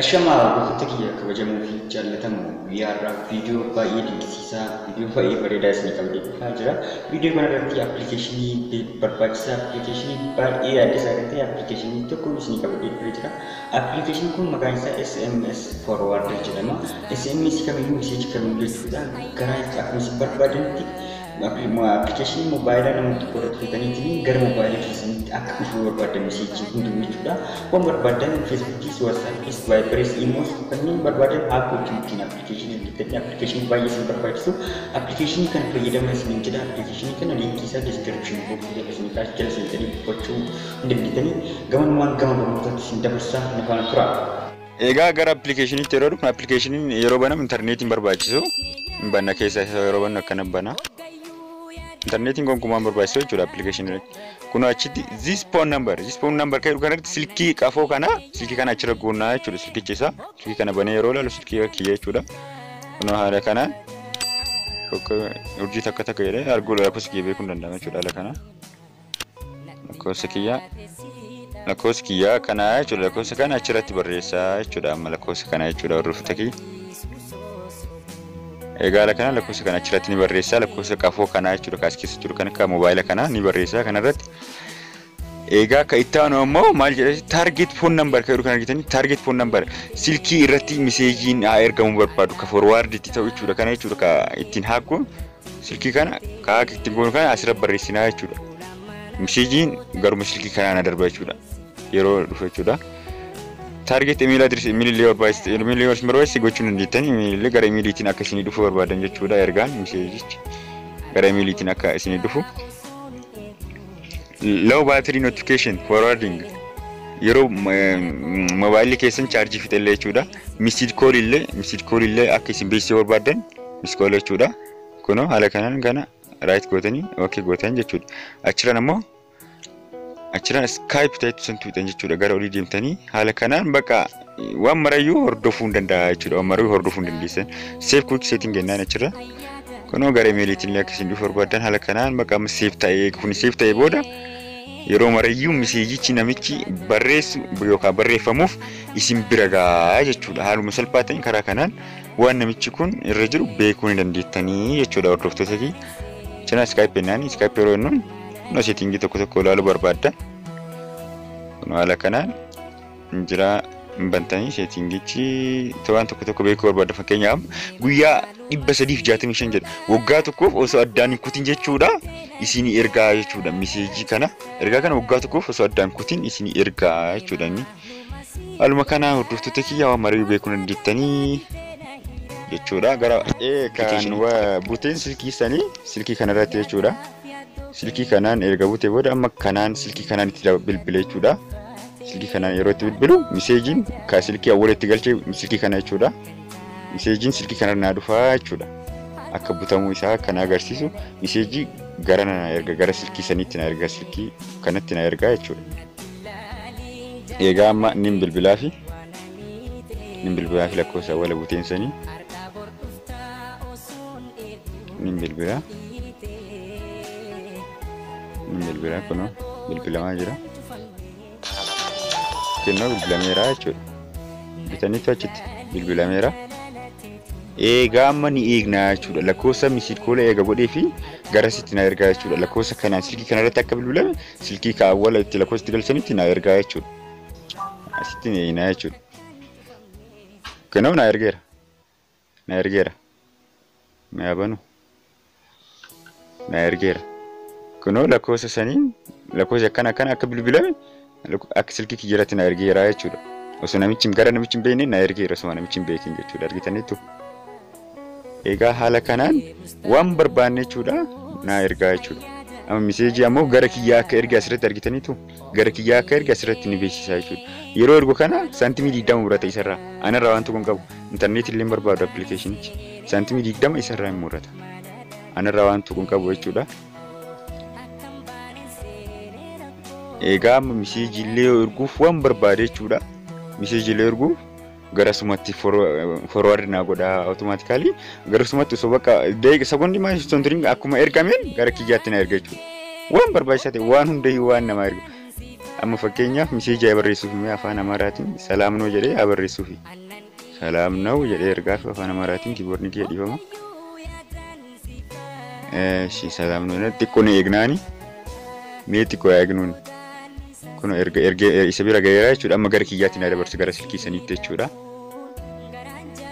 Ashamaa hordoftoota kiyya kabajamoo fi jaallatamoo guyyaa har'aa viidiyoo baay'ee dinqisiisaa viidiyoo baay'ee bareedaa isin qabdee dhufaa jira. Viidiyoo kana irratti appilikeeshinii barbaachisaa appilikeeshinii baay'ee yaaddessaa kan ta'e appilikeeshinii tokko isin qabdee dhufee jira. Appilikeeshinii kun maqaan isaa SMS forwarder jedhama. SMS kamiyyuu miseeji kamiyyuu jechuudha. Karaa akkuma isin barbaadanitti Appilikeeshinii mobaayilaa nama tokko irratti bitaniitiin gara mobaayila keessanitti akka dhufuu barbaaddan miseejii hunduu jechuudha. Waan barbaaddan Feesbuukiis, Waatsaappiis, Vaayibariis, Iimoos kanneen barbaaddan aappootii ittiin appilikeeshinii hojjetanii appilikeeshinii baay'ee isin barbaachisu. Appilikeeshinii kana fayyadamaa isiniin jedha. Appilikeeshinii kana liinkii isaa diskiripshinii booksii jala isin kaa'e jala seentanii dubbachuu hin dandeettanii. Gamanumaan gama barnootaatti isin dabarsaa na faana turaa. Egaa gara appilikeeshiniitti yeroo dhufnu appilikeeshiniin yeroo banamu intarneetiin barbaachisu hin banna keessa isa yeroo bannu akkana bana. Intarneetiin gonkumaa hin barbaachisu jechuudha appilikeeshinii irratti. Kun achitti this phone number this phone number kan jedhu kanatti silkii qafoo kana silkii kana achirra goonnaa jechuudha silkichi isaa silkii kana banee yeroo ilaalu silkii kiyya jechuudha. Kunoo haala kanaan urjii takka takka jedhee arguu lakkoofsa kiyya beekuu hin danda'amu jechuudha haala kanaan. lakkoofsa kiyyaa lakkoofsa kiyyaa kanaa jechuudha lakkoofsa kana achirratti barreessaa jechuudha amma lakkoofsa kana jechuudha hordoftoota kiyya egaala kana lakkoofsa kana achirratti ni barreessaa lakkoofsa qafoo kanaa jechuudha kaas keessa jiru kan akka moobaayila kanaa ni barreessaa kanarratti egaa akka itti aanu ammoo maal jedhasi taarget foon nambar kan jedhu kan argitanii taarget foon nambar silkii irratti miseejiin haa ergamu barbaadu ka forwaarditti ta'u jechuudha kana jechuudha ka ittiin haakkuun Silkii kana karaa ittiin goonu kana asirra barreessinaa jechuudha. Miseejiin garuma silkii kanaa na darba jechuudha. Yeroo dhufu jechuudha. Taargeet imeelii adireesii imeelii illee barbaachisa imeelii illee barbaachisa gochuu hin dandeettan imeelii illee gara imeeliitiin akka isinii dhufu barbaadan jechuudha ergaan miseejichi gara imeeliitiin akka isinii dhufu. Low battery notification forwarding yeroo mobaayilii keessan chaarjii fixellee jechuudha. Misid koolii illee misid koolii illee akka isin beeksisuu barbaadan iskooloo jechuudha kunoo haala kanaan kana raayit gootanii ok gootan jechuudha achiraan ammoo achiraan iskaayip ta'etu san tuuxan jechuudha gara olii deemtanii haala kanaan bakka waan marayyuu hordofuu hin danda'a jechuudha waan marayyuu hordofuu hin dandeessan seef kuwik seetiin gennaan achirra kunoo gara imeeliitiin illee akkasiin dhufu barbaadan haala kanaan bakka amma seef ta'ee kun seef ta'ee booda yeroo marayyuu miseejichi namichi barreessu yookaan barreeffamuuf isin bira ga'a jechuudha haaluma salphaa ta'een karaa kanaan waan namichi kun irra jiru beekuu ni dandeettanii jechuudha hordoftoota fi cinaa iskaayipii naan iskaayipii yeroo jennuun kunoo seetingii tokko tokko ilaaluu barbaadda kun haala kanaan jira hin bantanii seetingichi waan tokko tokko beekuu barbaadda fakkeenyaaf guyyaa dhibba sadiif jaatamii shan jedha waggaa tokkoof osoo addaan hin kutin jechuudha isinii ergaa jechuudha miseejii kana ergaa kana waggaa tokkoof osoo addaan kutin isinii ergaa jechuudha inni. Haaluma kanaa hordoftoota kiyyaa waan marii beekuu dandeettanii jechuudha. Gara kan buteen silkii sanii silkii kanarratti jechuudha. Silkii kanaan erga butee booda amma kanaan silkii kanaan itti bilbile jechuudha. Silkii kanaan yeroo itti bilbilu miseejiin kan silkii awwala itti galchee silkii kana jechuudha. Miseejiin silkii kanarra naa dhufaa jechuudha. Akka butamuu isaa kan agarsiisu miseejii gara na erga gara silkii saniitti na erga silkii kanatti na erga jechuudha. Eegaa amma nin bilbilaafi nin bilbilaafi lakkoofsa awwala buteen sanii nin bilbilaa nin bilbilaa kunoo bilbilamaa jira kennoo bilbilameera jechuudha bitanitti achitti bilbilameera eegaa amma ni eegnaa jechuudha lakkoofsa misiid koola eega godhee fi gara sitti na ergaa jechuudha lakkoofsa kanaan silkii kanarratti akka bilbilame silkii ka awwala itti lakkoofsa itti galchanitti naa ergaa jechuudha. Asitti na hiinaa jechuudha. Kanaaf naa ergeera. Na ergeera. Na yaabanu. Na ergeera. Kunoo lakkoofsa saniin lakkoofsi akkana akkana akka bilbilame lakko- akka silkii kiyyarratti na ergeera jechuudha. Osoo namichi gara namichi hin beekne na ergeera osoo namichi hin beekin jechuudha. Argitaniittu. Egaa haala kanaan waan barbaanne jechuudha naa ergaa jechuudha. Amma miseejii ammoo gara kiyyaa akka erge asirratti argitaniitu gara kiyyaa akka erge asirratti ni beeksisaa jechuudha. Yeroo ergu kana saantimii digdama murata isarraa anarraa waan tokko hin qabu intarneetii illee hin barbaadu appilikeeshinichi saantimii digdama isarraa hin murata anarraa waan tokko hin qabu jechuudha. Egaa amma miseejii illee erguuf waan barbaade jechuudha. Miseejii illee erguuf gara sumatti forward naa godha automatically gara sumatti osoo bakka daqiiqa sekondi maa hin turin akkuma ergameen gara kiyyaatti na erga jechuudha. Waan barbaachisaa ta'e waan hundayyuu waan namaa ergu. Amma fakkeenyaaf miseejii haa barreessuuf mee afaan Amaaraatiin salaam noo jedhee haa barreessuuf. Salaam noo jedhee ergaaf afaan Amaaraatiin kiiboordiin kiyya dhiifama. Eeshi salaam nuuna xiqqoo ni eegnaani. Mee xiqqoo yaa eegnuun. Kun erga erga isa bira gaheera jechuudha. Amma gara kiyyaatti na dabarsa gara silkii saniitti jechuudha.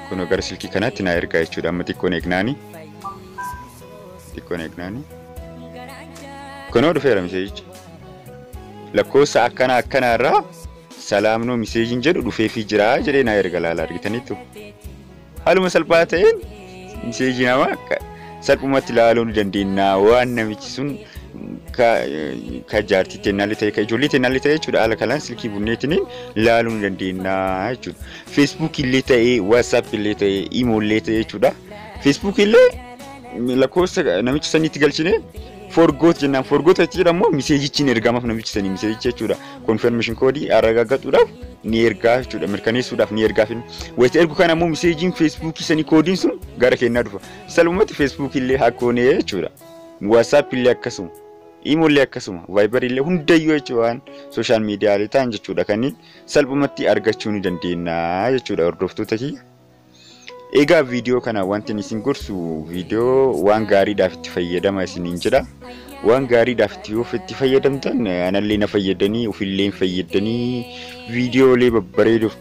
Kun gara silkii kanaatti na ergaa jechuudha. Amma xiqqoo ni eegnaani. Xiqqoo ni eegnaani. Kunoo dhufeera miseejichi. Lakkoofsa akkana akkanaarraa salaamnoo miseejiin jedhu dhufeefii jira jedhee na erga laala argitaniittu. Haaluma salphaa ta'een miseejii namaa akka salphumatti ilaaluu ni dandeenya waan namichi sun ka, ka jaartii teennaallee ta'e ka ijoollee teennaallee ta'e jechuudha haala kanaan silkii bunneetiniin ilaaluu ni dandeenya jechuudha. Feesbuukii illee ta'e waatsaap illee ta'e imoo illee ta'e jechuudha. Feesbuukii illee lakkoofsa namicha saniitti galchine forgoot jennaan forgoot jechuudha immoo miseejichi hin ergamaaf namichi sanii miseejichi jechuudha. confirmation koodii aragaaggachuudhaaf ni ergaa jechuudha mirkaneessuudhaaf ni ergaaf wayita ergu kana immoo miseejiin feesbuukii sanii koodiin sun gara kennaa dhufa salumatti feesbuukii illee hakkoonee jechuudha waasaap illee akkasuma imoo illee akkasuma vaayibar illee hundayyuu jechuudha waan sooshaal miidiyaalee ta'an jechuudha kanneen salphumatti argachuu ni dandeenya jechuudha hordoftoota kiyya. Egaa viidiyoo kana wanti isin gorsu viidiyoo waan gaariidhaaf itti fayyadama isiniin jedha. Waan gaariidhaaf itti of itti fayyadamtan anallee na fayyadanii ofillee hin fayyadanii viidiyoolee babbareeduuf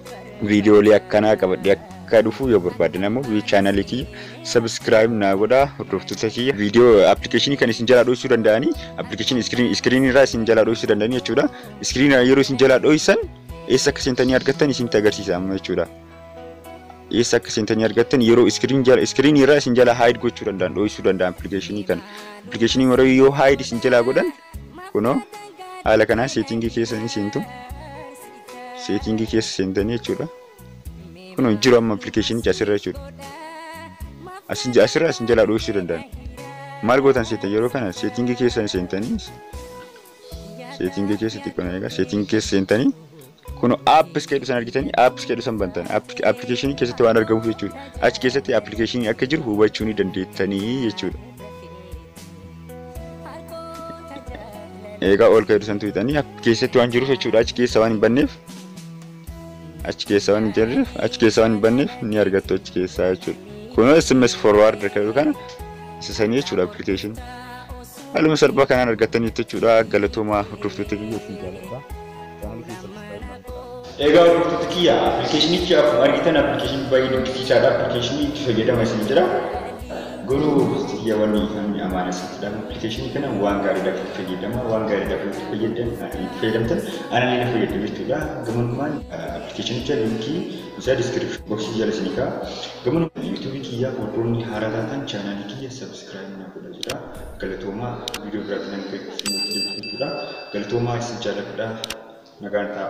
viidiyoolee akkanaa qabadhee akka dhufu yoo barbaadan ammoo viidiyoo chaanalii kiyya sabiskiraayib naa godhaa hordoftoota kiyya viidiyoo appilikeeshinii kan isin jalaa dho'isuu danda'anii appilikeeshinii iskiriinii irraa isin jalaa dho'isuu danda'anii jechuudha. Iskiriinii yeroo isin jalaa dho'isan eessa akka seentanii argattan isinitti agarsiisa amma jechuudha. eessa akka seentanii argattan yeroo iskiriin jala iskiriin irraa isin jala haayid gochuu danda'an dho'isuu danda'an appilikeeshinii kana appilikeeshinii warra yoo haayid isin jalaa godhan kunoo haala kanaa seetingii keessa ni seentu seetingii keessa seentanii jechuudha kunoo jiru amma appilikeeshinichi asirra jechuudha asin asirra isin jalaa dho'isuu danda'an maal gootan seetan yeroo kana seetingii keessa seentanii seetingii keessa xiqqoo na eegaa seetingii keessa seentanii kun apps keedhu san argitanii apps keedhu san bantan appilikeeshinii keessatti waan argamuuf jechuudha achi keessatti appilikeeshinii akka jiru hubachuu ni dandeettanii jechuudha. Eegaa ol keedhu san tuqxanii keessatti waan jiruuf jechuudha achi keessa waan hin banneef achi keessa waan hin jirreef achi keessa waan hin banneef ni argattu achi keessaa jechuudha. Kunoo SMS forward keedhu kana isa sanii jechuudha appilikeeshinii. Haaluma salphaa kanaan argattaniittu jechuudha. Galatoomaa hordoftoota kiyya isin jaalladha. Chaanaalii kiyya subscribe naan godhaa. Egaa hordoftoota kiyya appilikeeshinichi akkuma argitan appilikeeshinii baay'ee dinqisiisaadha. Appilikeeshinii itti fayyadama isin jira. Garuu hordoftoota kiyya wanni kan amaana isin jedha. Appilikeeshinii kana waan gaariidhaaf itti fayyadama. Waan gaariidhaaf itti fayyadama. Itti fayyadamtan anaan illee fayyadama jechuudha. Gamanummaan appilikeeshinicha linkii isaa diskiripshinii boksii jala isin egaa. Gamanummaan yuutuubii kiyya hordoftoonni haaraa taatan chaanaalii kiyya subscribe. subscribe na godha jedha galatoomaa viidiyoo biraatti nan dhufe isinitti deebisu jechuudha galatoomaa isin jaalladha nagaan ta'a.